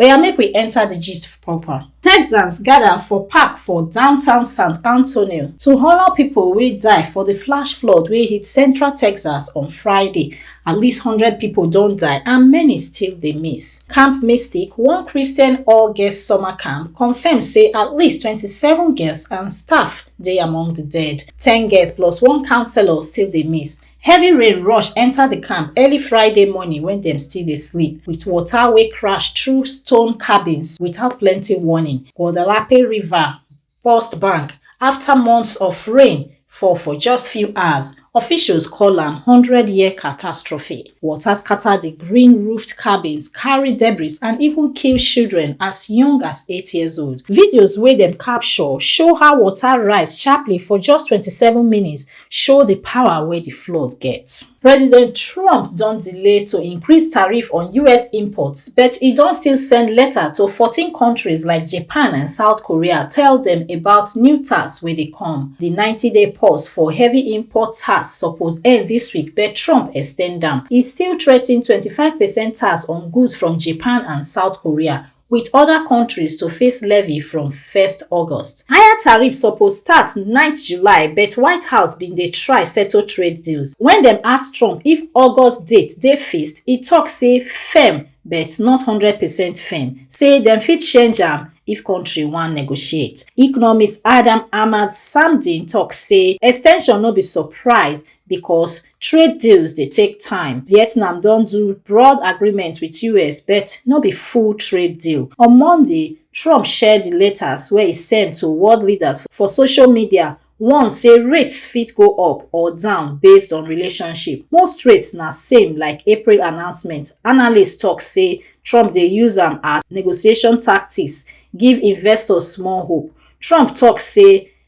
Oya make we enter the gist proper. Texans gather for park for downtown San Antonio to honor people wey die for the flash flood wey hit central Texas on Friday. At least 100 people don die and many still dey miss. Camp Mystic, one Christian all-girls summer camp, confirm say at least 27 girls and staff dey among the dead. 10 girls plus one counselor still dey miss. Heavy rain rush enter the camp early Friday morning when dem still dey sleep, with water wey crash through stone cabins without plenty warning. Guadalape River burst bank after months of rain fall for just few hours. Officials call am hundred year catastrophe. Water scatter the green roofed cabins, carry debris and even kill children as young as eight years old. Videos wey dem capture show how water rise sharply for just twenty seven minutes show di power wey di flood get. President Trump don delay to increase tariff on us imports but e don still send letter to fourteen kontris like Japan and South Korea tell dem about new tax wey dey come. Di ninety day pause for heavy import tax suppose end dis week but Trump ex ten d am. E still threa ten twenty five percent tax on goods from Japan and South Korea wit oda kontris to face levy from first august higher tariff suppose start nine july but white house bin dey try settle trade deals wen dem ask trump if august date dey fixed e tok say firm but not hundred percent firm say dem fit change am if kontri wan negotiate economist adam ahmad samdin tok say extension no be surprise because trade deals dey take time. Vietnam don do broad agreement with US but no be full trade deal. On Monday, Trump share di letters wey e send to world leaders for social media warn say rates fit go up or down based on relationship. Most rates na same like April announcement. Analysts tok say Trump dey use am as negotiation tactics give investors small hope. Trump tok say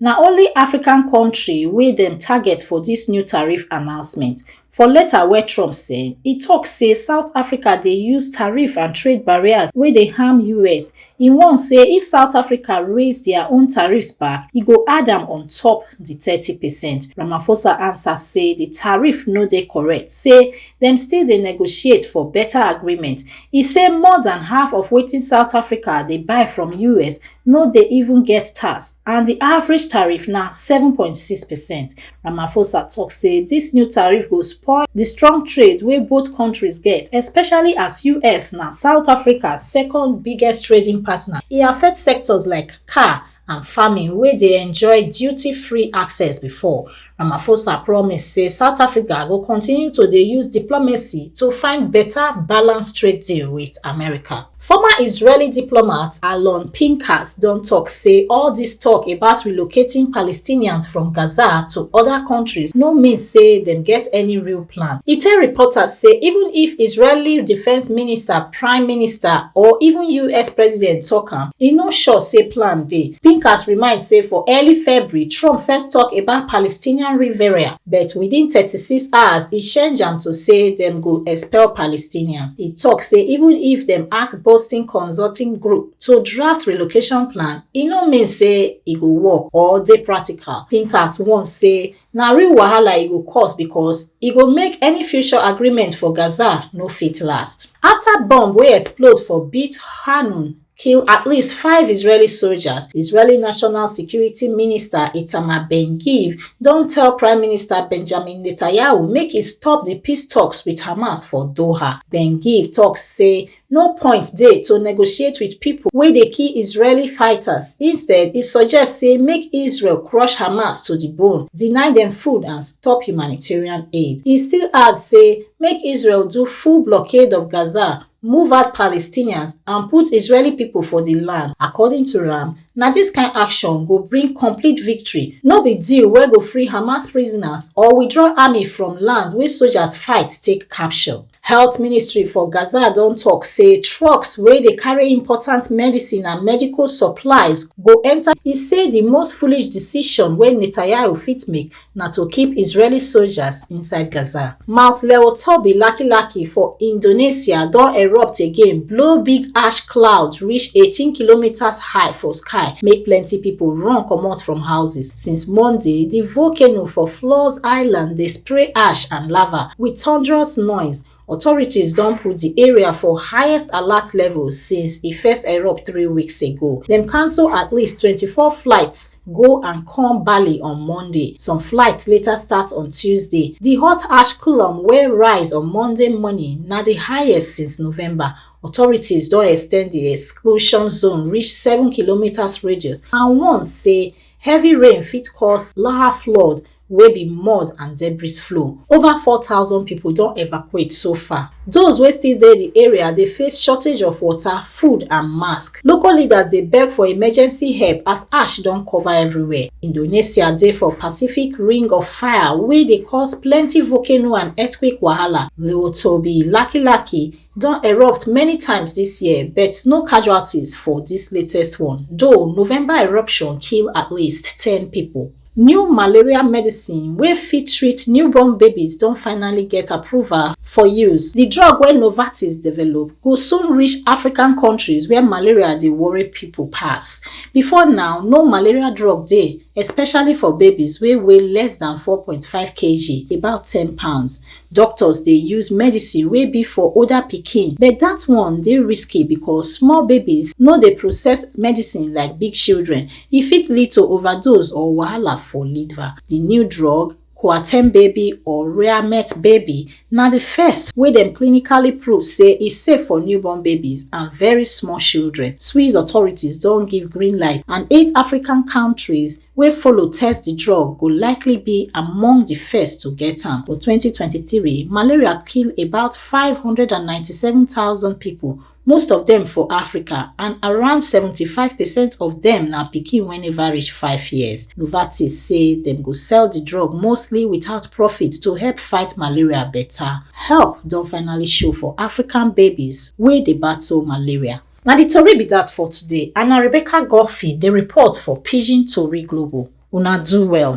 na only african kontri wey dem target for dis new tariff announcement for letter wey trump send e tok say south africa dey use tariff and trade barriers wey dey harm us e warn say if south africa raise dia own tariffs back e go add am on top di thirty percent ramaphosa ansa say di tariff no dey correct say dem still dey negotiate for beta agreement e say more dan half of wetin south africa dey buy from us no dey even get tax and di average tariff na seven point six percent ramaphosa tok say dis new tariff go spoil di strong trade wey both countries get especially as us na south africa second biggest trading partner e affect sectors like car and farming wey dey enjoy duty-free access before, Ramaphosa promise say South Africa go continue to dey use diplomacy to find better balanced trade deal with America. Former Israeli diplomat Alon Pinkas don talk say all this talk about relocating Palestinians from Gaza to other countries no mean say dem get any real plan. E tell reporters say even if Israeli Defense Minister prime minister or even us president tok am e no sure say plan dey pincus remind say for early february trump first tok about palestinian riverine but within 36 hours e change am to say dem go expel palestinians e tok say even if dem ask boston consulting group to draft relocation plan e no mean say e go work or dey practical pincus warn say na real wahala e go cause because e go make any future agreement for Gaza no fit last. After bomb wey explode for Beit Hanun kill at least five Israeli soldiers, Israeli National Security Minister Itamar Ben-Gvir don tell Prime Minister Benjamin Netanyahu make e stop di peace talks with Hamas for Doha. Ben-Gvir talk say no point dey to negotiate wit pipo wey dey kill israeli fighters instead e suggest say make israel crush hamas to di bone deny dem food and stop humanitarian aid e still add say make israel do full blockade of gaza move out palestinians and put israeli pipo for di land according to am na dis kain action go bring complete victory no be deal wey go free hamas prisoners or withdraw army from land wey sojas fight take capture Health ministry for Gaza don tok say trucks wey dey carry important medicine and medical supplies go enta. E say di most foolish decision wey Netanyahu fit make na to keep Israeli soldiers inside Gaza. Mount Leotobi Laki-Laki for Indonesia don erupt again, blow big ash cloud reach 18 kilometres high for sky, make plenty pipo run comot from houses. Since Monday, di volcano for Flores Island dey spray ash and lava. Wit thunderous noise, authorities don put di area for highest alert level since e first erupt three weeks ago. Dem cancel at least twenty-four flights go and come Bali on Monday. Some flights later start on Tuesday. Di hot ash column wey rise on Monday morning na di highest since November. Authorities don ex ten d di exclusion zone reach seven kilometres radius and warn say heavy rain fit cause Lahar flood wey be mud and debris flow. Over 4,000 pipo don evacuate so far. Those wey still dey di area dey face shortage of water, food and mask. Local leaders dey beg for emergency help as ash don cover everywhere. Indonesia dey for Pacific Ring of Fire wey dey cause plenty volcano and earthquake wahala. Lil Toby, Laki Laki, don erupt many times dis year but no casualties for dis latest one, though November eruption kill at least ten pipo. New malaria medicine wey fit treat newborn babies don finally get approval for use. Di drug wey Novartis develop go soon reach African kontris where malaria dey worry pipo pass. Before now, no malaria drug dey, especially for babies wey weigh less dan four point five kg, about ten pounds. Doctors dey use medicine wey be for older pikin, but dat one dey risky becos small babies no dey process medicine like big children, e fit lead to overdose or wahala for liver. Di new drug, Coartem baby or Reamet baby, na di first wey dem clinically prove say e safe for newborn babies and very small children. Swiss authorities don give green light and eight African countries wey follow test di drug go likely be among di first to get am. For 2023, malaria kill about 597,000 pipo most of dem for africa and around 75 percent of dem na pikin wey neva reach five years novartis say dem go sell di drug mostly without profit to help fight malaria beta help don finally show for african babies wey dey battle malaria na di tori be dat for today and na rebecca godfrey dey report for pidgin tori global una do well